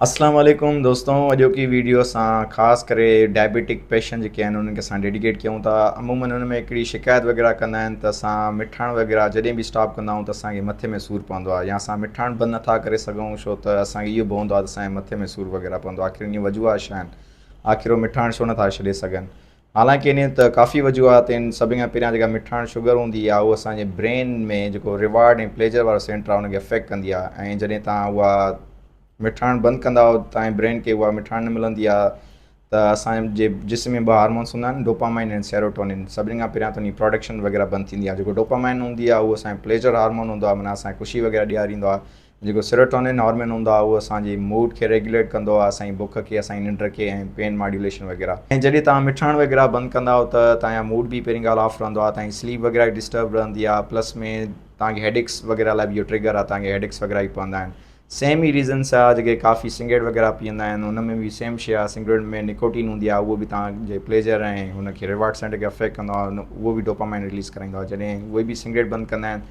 اسلام عليڪم دوستو اڄوڪي ويڊيو اسان خاص ڪري ڊائبيٽڪ پيشنٽ جيڪي آهن انهن کي اسان ڊيڊيڪيٽ ڪيون ٿا عموما انهن ۾ هڪڙي شڪايت وغيره ڪندا آهن ته اسان مٺاڻ وغيره جڏهن به اسٽاپ ڪندا آهيون ته اسان کي مٿي ۾ سور پوندو آهي يا اسان مٺاڻ بند نٿا ڪري سگهون ڇو ته اسان کي اهو به هوندو آهي ته اسان جي مٿي ۾ سور وغيره پوندو آخر ان جون وجوهات ڇا آهن آخر هو مٺاڻ ڇو نٿا ڇڏي سگهن حالانڪ انهن ته ڪافي وجوهاتن سڀني کان پهريان جيڪا مٺاڻ شگر هوندي آهي اها اسان جي برين ۾ جيڪو ريوارڊ ۽ پليجر وارو سينٽر آهي ان کي افيڪٽ ڪندي آهي ۽ جڏهن توهان اها مٺاڻ بند ڪندا آهيو توهان جي برين کي اها مٺاڻ نه ملندي آهي ته اسان جي جسم ۾ ٻه هارمونس هوندا آهن ڊوپامائن ۽ سيروٽونين سڀني کان پهريان ته ان جي پراڊڪشن وغيره بند ٿيندي آهي جيڪو ڊوپامائن هوندي آهي اهو اسان جي پليجر هارمون هوندو آهي معنيٰ اسان کي خوشي وغيره ڏياريندو آهي جيڪو سيروٽونين هارمين هوندو آهي اهو اسان جي موڊ کي ريگيوليٽ ڪندو آهي اسان جي بک کي اسان جي ننڊ کي ۽ پين ماڊيوليشن وغيره ۽ جڏهن توهان مٺاڻ وغيره بند ڪندا آهو ته توهان جا موڊ به پهرين ڳالهه آف رهندو آهي توهان جي سليپ وغيره به ڊسٽرب رهندي آهي پلس ۾ توهان کي هيڊڪس وغيره لاء به اهو ٽريگر آهي توهان کي هيڊڪس وغيره به پوندا آهن سيم ئي ريزنس آهي جيڪي ڪافي سگريٽ وغيره پيئندا آهن ان ۾ به سيم شي آهي سگريٽ ۾ نڪوٽين هوندي آهي اهو به توهان جي پليجر ۽ هن کي رواڊ سينٽر کي افيڪٽ ڪندو آهي اهو به ڊوپامائن رليز ڪرائيندو آهي جڏهن اهي به سگريٽ بند ڪندا آهن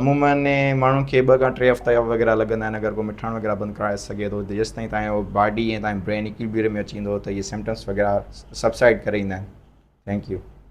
عمومن ماڻهن کي ٻه کان ٽي هفتا وغيره لڳندا آهن اگر ڪو مٺاڻ وغيره بند ڪرائي سگهي ٿو ته جيستائين تائين اهو باڊي ۽ تائين برين اڪيلبيرم ۾ اچي ويندو ته اهي سمپٽمس وغيره سبسائيڊ ڪري ويندا آهن ٿينڪ يو